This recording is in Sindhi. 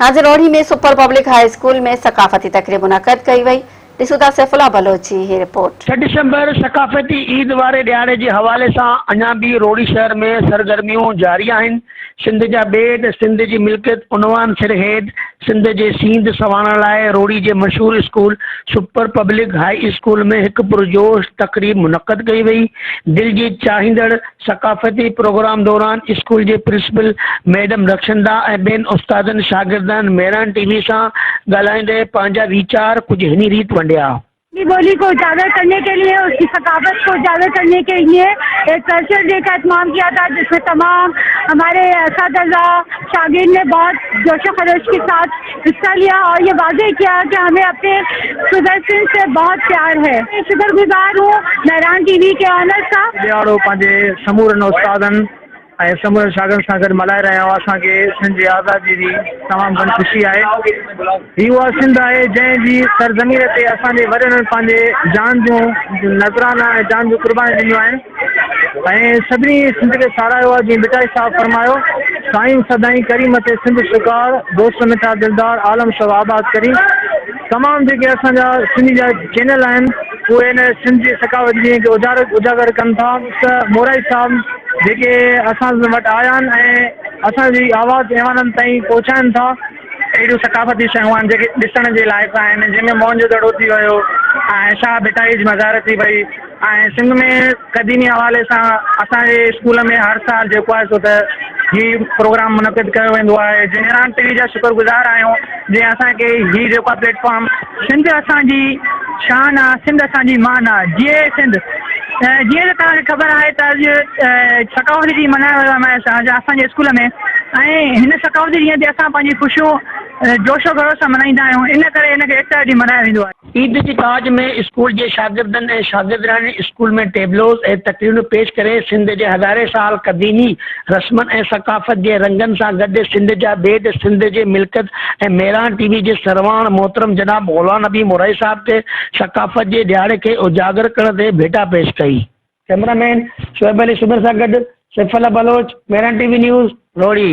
ناظر اوڙي ۾ سپر پبلڪ هاء اسڪول ۾ ثقافتي تقريب منعقد ڪئي وئي، ڏسون ٿا سيف الله بلوچ جي هي رپورٽ. ڇهه ڊسمبر ثقافتي عيد واري ڏهاڙي جي حوالي سان اڃا به روهڙي شهر ۾ سرگرميون جاري آهن، سنڌ جا بيد، سنڌ جي ملڪيت عنوان سر هيد سنڌ جي سينڌ سنوارڻ لاء روهڙي جي مشهور school super public high school ۾ هڪ پرجوش تقريب منعقد ڪئي وئي، دل جي چاهيندڙ ثقافتي پروگرام دوران اسڪول جي پرنسپل ميڊم رخشنده ۽ ٻين استادن شاگردن مهراڻ ٽي وي سان ڳالهائيندي پنهنجا ويچار ڪجهه هني ريت ونڊيا. اپني ٻولي ڪو اجاگر ڪرني ڪي ليي اس ڪي ثقافت ڪو اجاگر ڪرني ڪي ليي ايڪ ڪلچر ڊي ڪا اهتمام ڪيا ٿا جس مين تمام هماري اساتذه شاگرد ني بهت جوش و خروش ڪي ساٿ حصہ ليا اور یہ واضح کيا کہ ھمين اپني صوبه سنڌ سي بھت پيار ھي شڪر گزار ھون مھران ٽي وي ڪي اونر سا. ڏيھاڙو پنھنجي سمورن استادن ۽ سمورن شاگردن سان گڏ ملھائي رھيا آھيون اسان کي سنڌ جي آزادي جي تمام گھڻي خوشي آھي ھي اھا سنڌ آھي جنھن جي سرزمين تي اسان جي وڏڙن پنھنجي جان جون نذرانا ۽ جان جون قربانيون ڏنيون آھن. ۽ سڀني سنڌ کي ساراهيو آهي جيئن ڀٽائي صاحب فرمايو سائين سدائين ڪري مٿي سنڌ شڪار دوست مٺا دلدار عالم شو آباد ڪري تمام جيڪي اسان جا سنڌي جا چينل آهن اهي هن سنڌ جي ثقافت جي اجارڪ اجاگر ڪن ٿا ته مورائي صاحب جيڪي اسان وٽ آيا آهن ۽ اسان جي آواز ايوانن تائين پهچائن ٿا اهڙيون ثقافتي شيون آهن جيڪي ڏسڻ جي لائق آهن جنهن ۾ موهن جو دڙو ٿي ويو ۽ شاهه ڀٽائي جي مزار ٿي وئي ۽ سنڌ ۾ قديمي حوالي سان اسان جي اسڪول ۾ هر سال جيڪو آهي سو ته هي پروگرام منعقد ڪيو ويندو آهي جنهن عمران پيري جا شڪر گذار آهيون جنهن اسان کي هي جيڪو آهي پليٽ فارم سنڌ اسان جي شان آ سنڌ اسان جي مان آ جيئي سنڌ جيئي ته توهان کي خبر آهي ته اڄ ثقافتي ڏينهن ملهايو ويو آهي اسان جي اسڪول ۾ ۽ هن ثقافتي ڏينهن تي اسان پنهنجي خوشيون جوش و خروش سان ملهائيندا آهيون ان ڪري هن کي ايڪتا ڏينهن ملهايو ويندو آهي. عيد جي تاج ۾ اسڪول جي شاگردن ۽ شاگردياڻين اسڪول ۾ ٽيبلوز ۽ تقريرون پيش ڪري سنڌ جي هزارين سال قديمي رسمن ۽ ثقافت جي رنگن سان گڏ سنڌ جا بيد سنڌ جي ملڪيت ۽ ميران ٽي وي جي سرواڻ محترم جناب غلام نبي مورائي صاحب تي ثقافت جي ڏهاڙي کي اجاگر ڪرڻ تي ڀيٽا پيش ڪئي. ڪئميرا مين شعيب علي سومري سان گڏ Saifullah Baloch, Mehran T V news, Rohri.